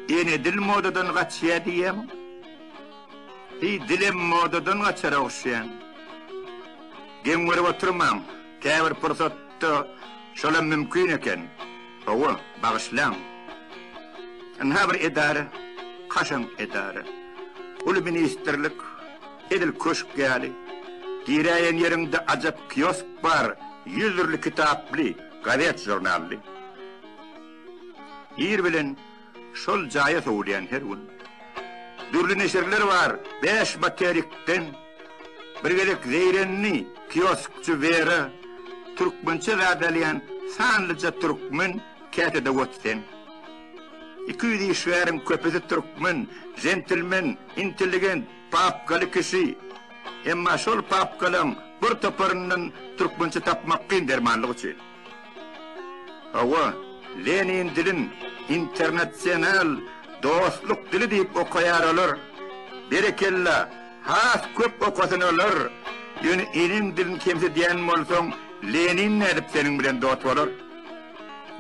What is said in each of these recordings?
Ýene dil modadan gaçýar diýýäň. Hi dilem modadan gaçar ogşýan. Geň görüp oturmaň. Käbir pursatda şolam mümkin eken. Hawa, bagyşlaň. Ynha bir edara, kaşaň edara. Uly ministrlik, edil köşk ýaly. Giräýen ýeriňde ajap kiosk bar, ýüz dürli kitaply, gazet-žurnally. Ir bilen. Şol jaýa sowulýan her gün dürli neşirler bar. Bäş materikden bir gezek zeýrenli kioskçy Wera türkmençe zat alýan sanlyja türkmen käte dowot sen. Iki ýüz işgäriň köpüsi türkmen, jentilmen, intelligent, papkaly kişi. Emma şol papkalaň bir toparyndan türkmençe tapmak kyn dermanlyk üçin. Hawa, Lenin dilin internasional dostluk dili diýip okaýar olar. Berekella, has köp okasyn olar. Ýöne eneň dilini kemsidýän bolsaň, Lenin nädip seniň bilen dost bolar?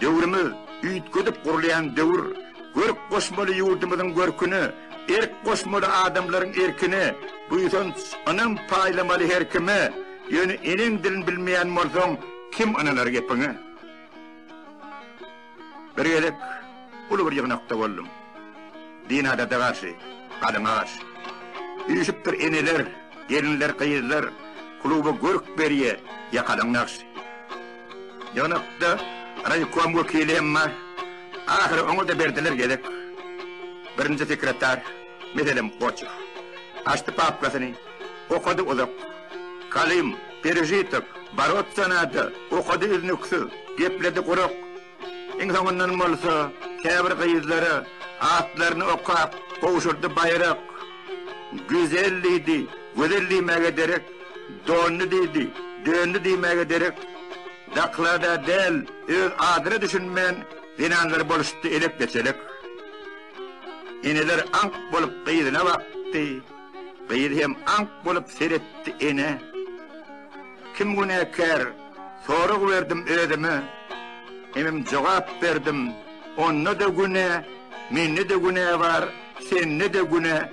Döwrümiz üýtgedip gurulýan döwür. Görk goşmaly ýurdumyzyň görküne, erk goşmaly adamlaryň erkine, buýsanç, ynam paýlamaly her kime. Ýöne eneň dilini bilmeýän bolsaň, Kim ynanar gepiňe? Bir gezek uly bir ýygnakda boldum. Dina daja garşy, galyňa garşy. Üýşüpdir eneler, gelinler, gyzlar, kluba görk berýä, ýakalyň nagşy. Ýygnakda raýkom wekili hem bar. Ahyry oňa-da berdiler gezek. Birinji sekretar. Meselem, Goçew. Açdy papkasyny, okady uzak. Kalim, Perežitok, Boroться nada, okady üznüksiz, gepledi gurak. Iň soňundan bolsa, käbir gyzlara atlaryny okap, gowşurdy baýrak. Güzel diýdi, gözel diýmäge derek, dondy diýdi, döndi diýmäge derek. Zaklada däl, öz adyna düşünmän, zenanlar boluşdy elek-geçelek. Eneler aňk bolup gyzyna bakdy. Gyz hem aňk bolup seretdi ene. Kim günäkär? Sorag berdim özüme. Hemem jogap berdim. Onda-da günä, mende-de günä bar, sende-de günä.